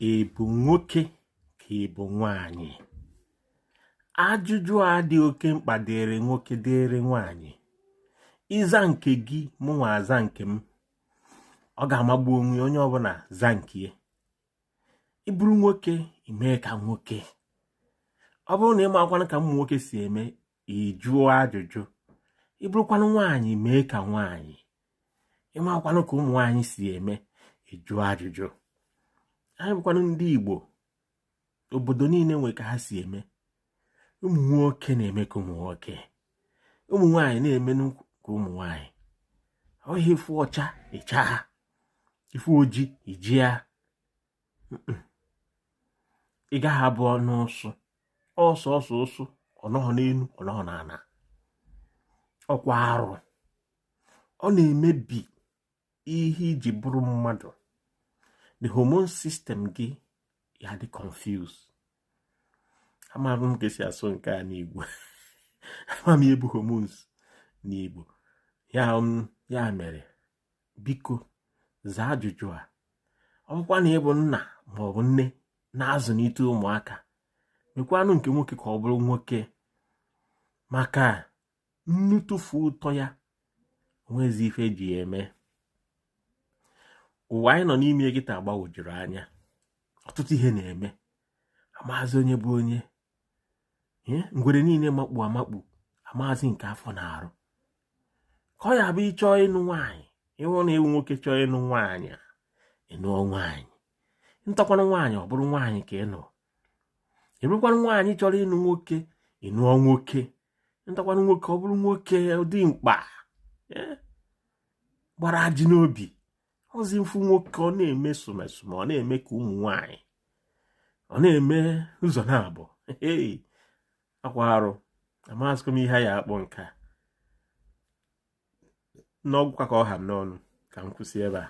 ị bụ nwoke ka ị bụ nwanyị ajụjụ a dị oke mkpa dịrị nwoke dịrị nwanyị ị za nke gị mụnwa aza nke m ọ ga-amagbu onwe onye ọbụla za nke ya ị bụrụ nwoke i mee ka nwoke ọ bụrụ na ị makwanụ ka ụmụ nwoke si eme ị jụọ ajụjụ ị bụrụkwanụ nwaanyị mee ka nwaanyị ị makwanụ ka ụmụ nwaanyị si eme ị jụọ ajụjụ anyị bụkwanụ ndị Igbo obodo niile nwe ka ha si eme ụmụ nwoke na-eme ka ụmụ nwoke ụmụ nwaanyị na-eme ka ụmụ nwaanyị ọ ihe ị fụ ọcha ị chaa ị fụ oji i jia ị gaghị abụ ọnụ ụsụ ọsọ ọsọ ụsụ ọ nọghọ n'elu ọ nọghọ n'ala ọkwa arụ ọ na-emebi ihe i ji bụrụ mmadụ the hormone system gị ya-adị confused amaghị m ka e si asụ nke a n'igbo amaghị m ihe bụ hormones n'igbo ya mere biko zaa ajụjụ a ọ bụkwa na ị bụ nna ma ọ bụ nne na-azụlite ụmụaka mekwanụ nke nwoke ka ọ bụrụ nwoke maka nnu tụfu ụtọ ya o nwezi ife e ji ya eme ụwa anyị nọ n'ime kịta gbagwojuru anya ọtụtụ ihe na-eme amazi onye bụ onye ngwere niile makpu amakpu amazi nke afọ na-arụ ka ọ ya-abụ ị chọọ ịnụ nwaanyị ị hụ na ị wụ nwoke chọọ ịnụ nwaanyị ị nụọ nwaanyị nụtakwanụ nwaanyị ọ bụrụ nwaanyị ka ị nụ ị bụrụkwanụ nwaanyị chọrọ ịnụ nwoke ị nụọ nwoke nụtakwanụ nwoke ọ bụrụ nwoke dimkpa gbara ajị n'obi ọzi m fụ nwoke ọ na-eme somesome ọ na-eme ka ụmụ nwanyị ọ na-eme ụzọ naabọ ọkwa arụ amazikwa m ihe a ya-akpọ nke a na ọ wụkwa ka ọ ha m n'ọnụ ka m kwụsị ebe a